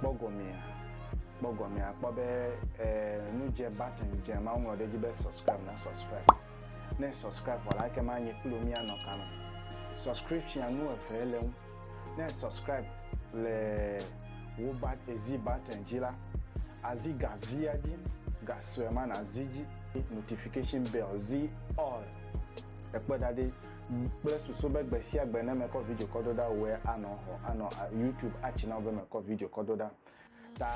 Kpɔ gɔmea. Kpɔ gɔmea akpɔ be e, nu dze button dze ma woŋlɔ ɖe edzi be subscribe na subscribe. Ne subscribe vɔ la eke ma nye kpli wo míanɔ ka me. Subscription nu eve le ŋu. Ne subscribe le wo ba ezi button dzi la, azi ga via dzi, ga sue ma nazi dzi. Notification bell zi all. Ekpɔe ɖa ɖi. Yi kple susu be gbe sia gbe ne mekɔ video kɔ do ɖa wòe anɔ xɔ anɔ YouTube atsi na wò be mekɔ video kɔ do ɖa. Ta.